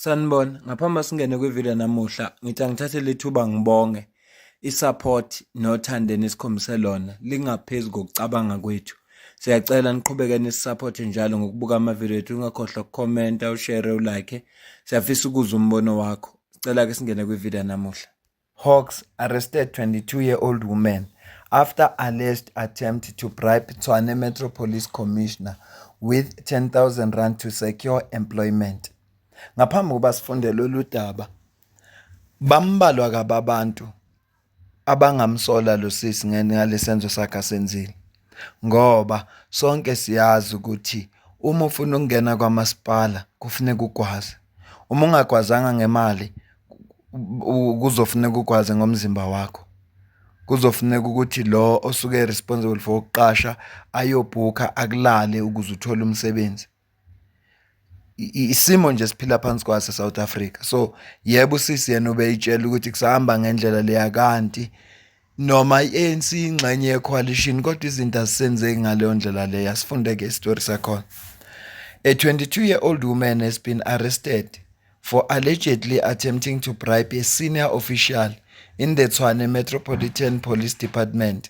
Sanibona, ngaphambi singene kwivideo namuhla, ngithi angithathe lethuba ngibonge isupport nothando enikhombise lona lingaphezulu kokucabanga kwethu. Siyacela niqhubeke nisisupport njalo ngokubuka amavideo ethu, ungakhohlwa ukukhomenta, ushare, ulike. Siyafisa ukuzwa umbono wakho. Sicela ke singene kwivideo namuhla. Hawks arrested 22-year-old woman after alleged attempt to bribe Tshwane Metro Police Commissioner with 10,000 rand to secure employment. Ngaphambi kokuba sifunde lolu daba, bambalwa kabi abantu abangamsola lo sisi ngale senzo sakhe asenzile. ngoba sonke siyazi ukuthi uma ufuna ukungena kwamasipala kufuneka ugwaze, uma ungagwazanga ngemali kuzofuneka ugwaze ngomzimba wakho. Kuzofuneka ukuthi lo osuke e-responsible for ukuqasha ayobhukha akulale ukuze uthole umsebenzi. isimo nje siphila phansi kwase South Africa so yebo usisi yena ubeyitshela ukuthi kusahamba ngendlela leya kanti noma iANC ingxenye yecoalition kodwa izinto asisenzeki ngaleyo ndlela leya sifunde ke istory sakhona a 22 year old woman has been arrested for allegedly attempting to bribe a senior official in the Tshwane Metropolitan Police Department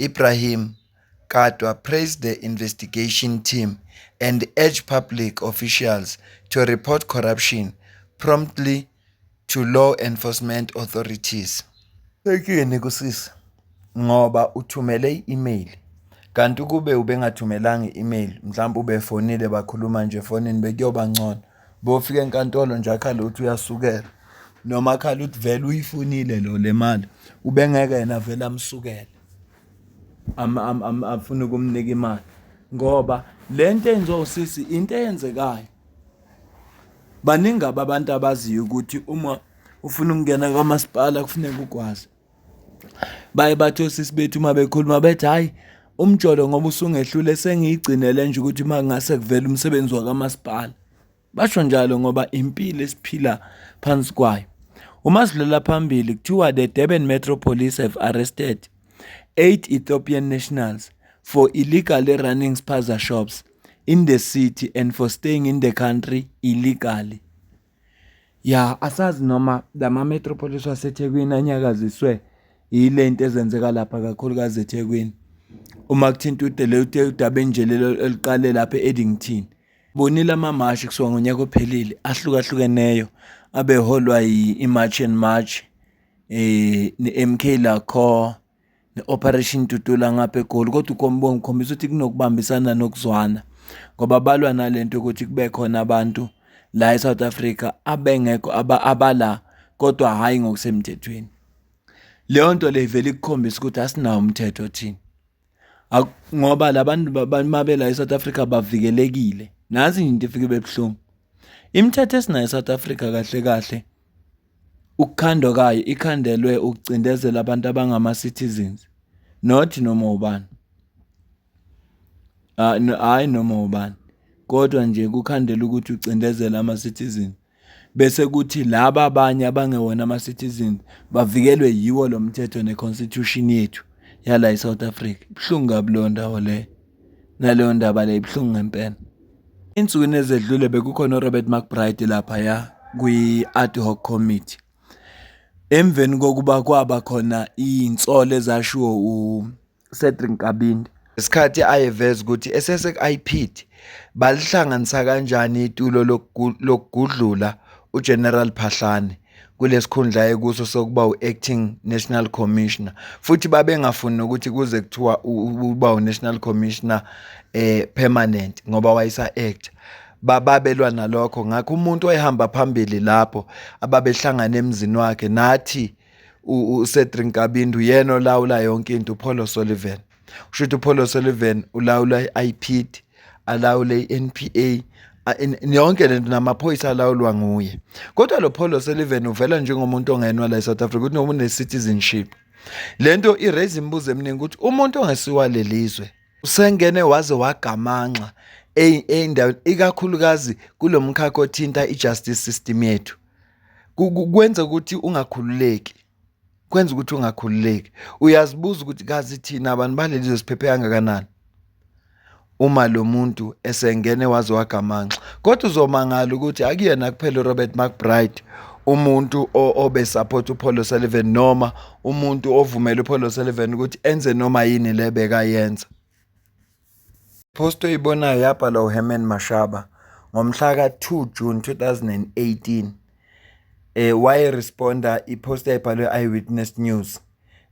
Ibrahim Katwa praised the investigation team and urged public officials to report corruption promptly to law enforcement authorities. Sekini kusisi ngoba uthumele i-email kanti ukube ubengathumelanga i-email mhlawumbe ubefonile bakhuluma nje efonini bekuyoba ngcono bofika enkantolo nje akhale ukuthi uyasukela noma akhale ukuthi vele uyifunile lo le mali ubengeke yena vele amsukele afune ukumnika imali ngoba le nto enziwa usisi into eyenzekayo baningi abantu abaziyo ukuthi uma ufuna ukungena kwamasipala kufuneka ukwazi baye bathi osisi bethu uma bekhuluma bethi hhayi umjolo ngoba usungehlule sengiyigcinele nje ukuthi uma kungase kuvele umsebenzi wakamasipala basho njalo ngoba impilo esiphila phansi kwayo uma sidlula phambili kuthiwa the durban metro police have arrested eight ethiopian nationals for illegally running spaza shops in the city and for staying in the country illegally Ya asazi noma la ma-metropolis waseThekwini anyakaziswe yile nto ezenzeka lapha kakhulukazi eThekwini. Uma kuthinta udaba enje lelo eliqale lapha e-Addington. Bonile amamashi kusuka ngonyaka ophelile ahlukahlukeneyo abeholwa yi-March and March, eh, ne-MK Lacor. ne-Operation Dudula ngapha eGoli kodwa uKombongo ukhombisa ukuthi kunokubambisana nokuzwana ngoba balwa nale nto yokuthi kube khona abantu la eSouth Africa abengekho abala kodwa hhayi ngokusemthethweni leyo nto le ivele ikukhombisa ukuthi asinawo umthetho thina ngoba labantu babela eSouth Africa bavikelekile nazi into ifike bebuhlungu imithetho esinayo eSouth Africa kahle kahle Ukukhandwa kayo ikhandelwe ukucindezela abantu abangama-citizens, not noma ubani. Hhayi noma ubani, kodwa nje kukhandelwe ukuthi ucindezela ama-citizen. Bese kuthi laba abanye abangewona ama-citizen bavikelwe yiwo lo mthetho ne-constitution yethu yala e-South Africa. Ibuhlungu kabi leyo ndawo leyo. naleyo ndaba le ibuhlungu ngempela insukwini ezedlule bekukhona uRobert McBride lapha ya kwi-ad hoc committee emveni kokuba kwaba khona insolo ezashiwo uCedric Kabindi isikhathi ayeveza ukuthi esesekuIPID balihlanganisa kanjani itulo lokugudlula uGeneral Phahlane kulesikhundla ayekuso sokuba u-acting national commissioner futhi babengafuni nokuthi kuze kuthiwa uba u-national commissioner eh permanent ngoba wayesa act bababelwa nalokho ngakho umuntu oyihamba phambili lapho ababehlangana emzini wakhe nathi uCedric Kabindu yena olawula yonke into uPaul Sullivan usho ukuthi uPaul O'Sullivan ulawula i-IPID alawule i-NPA yonke lento namaphoyisa alawulwa nguye kodwa lo Paul O'Sullivan uvela njengomuntu ongenwa la eSouth Africa ukuthi noma une-citizenship le nto i-raise imibuzo eminingi ukuthi umuntu ongesiwa lelizwe usengene waze wagamanxa ey'ndaweni ikakhulukazi kulo mkhakha othinta i-justice system yethu kwenza ukuthi ungakhululeki kwenza ukuthi ungakhululeki uyazibuza ukuthi kazi thina abantu baleli zosiphephe kangakanani uma lo muntu esengene waze wagamanxa kodwa uzomangala ukuthi akuyena kuphela uRobert McBride umuntu obe support uPaul Sullivan noma umuntu ovumela uPaul Sullivan ukuthi enze noma yini lebeka yenza Post oyibonayo yabhalwa uHerman Mashaba ngomhla ka-2 June 2018 eh wayeresponda i-post eyayibhalwe i-Eyewitness News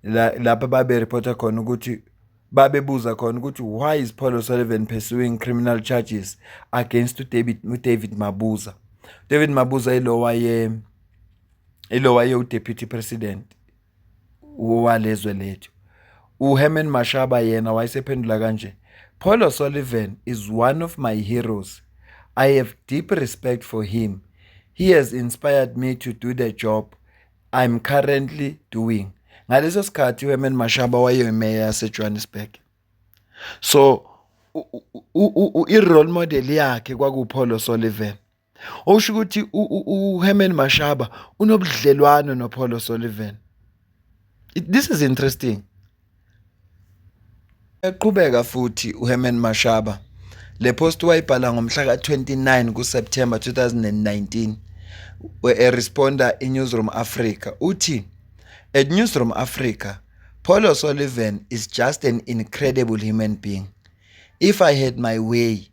la lapho babereporta khona ukuthi babebuza khona ukuthi why is Paul O'Sullivan pursuing criminal charges against uDavid uDavid Mabuza David Mabuza ilowaye ilowaye uDeputy President walezwe lethu uHerman Mashaba yena wayesephendula kanje Paul O'Sullivan is one of my heroes I have deep respect for him he has inspired me to do the job I'm currently doing ngaleso sikhathi uHerman Mashaba wayeyimeya yaseJohannesburg so i-role model yakhe kwakuPaul O'Sullivan Okusho ukuthi uHerman Mashaba unobudlelwano noPaul O'Sullivan. This is interesting. Eqhubeka futhi uHerman Mashaba le post wayibhala ngomhla ka-29 kuSeptember 2019 eresponda iNewsroom Africa uthi at Newsroom Africa Paul O'Sullivan is just an incredible human being if I had my way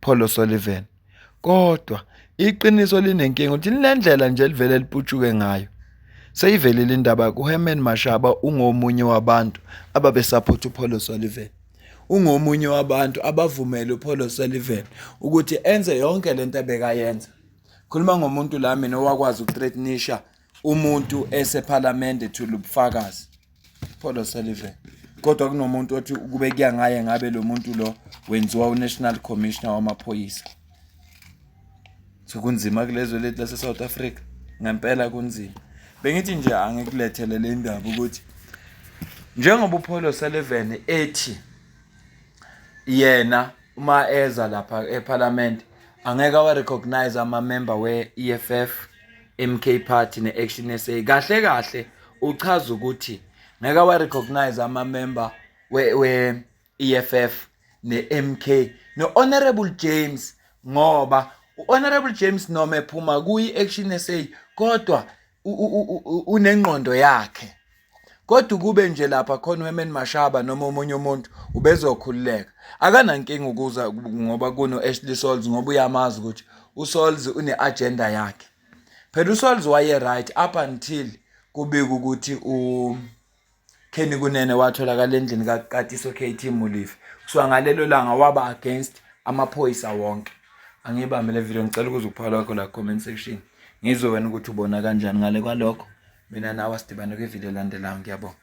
Paul O'Sullivan. Kodwa iqiniso linenkinga ukuthi linendlela nje elivele liputshuke ngayo. Seyivelile indaba kuHerman Mashaba ungomunye wabantu ababesaphotha uPaul O'Sullivan. Ungomunye wabantu abavumele uPaul O'Sullivan ukuthi enze yonke lento ebekayenza. Khuluma ngomuntu la mina owakwazi ukuthreatnisha umuntu esephalamende thula ubufakazi Paul O'Sullivan kodwa kunomuntu othi kube kuya ngaye ngabe lo muntu lo wenziwa uNational Commissioner wamaphoyisa so kunzima kulezwe lethu lase South Africa ngempela kunzima bengithi nje angikulethele le ndaba ukuthi njengoba uPaul O'Sullivan ethi yena uma eza lapha eParliament angeke awa recognize ama member we EFF MK Party ne Action SA kahle kahle uchaza ukuthi ngeke wa recognize ama member we, we EFF ne MK no Honorable James ngoba uHonorable James noma ephuma kuyi Action SA kodwa unengqondo yakhe kodwa ukube nje lapha khona uHerman Mashaba noma omunye umuntu ubezokhululeka akanankinga ukuza ngoba kuno Ashley Souls ngoba uyamazi ukuthi uSouls uneagenda yakhe phela uSouls waye right up until kubika ukuthi u Kenny Kunene watholakala endlini kaQatiso KT Mulifi kuswa ngalelo langa waba against amaphoyisa wonke angibambe le video ngicela ukuza ukuphala kwakho la comment section ngizwe wena ukuthi ubona kanjani ngale kwalokho mina nawe asidibane kwividiyo elandelayo ngiyabonga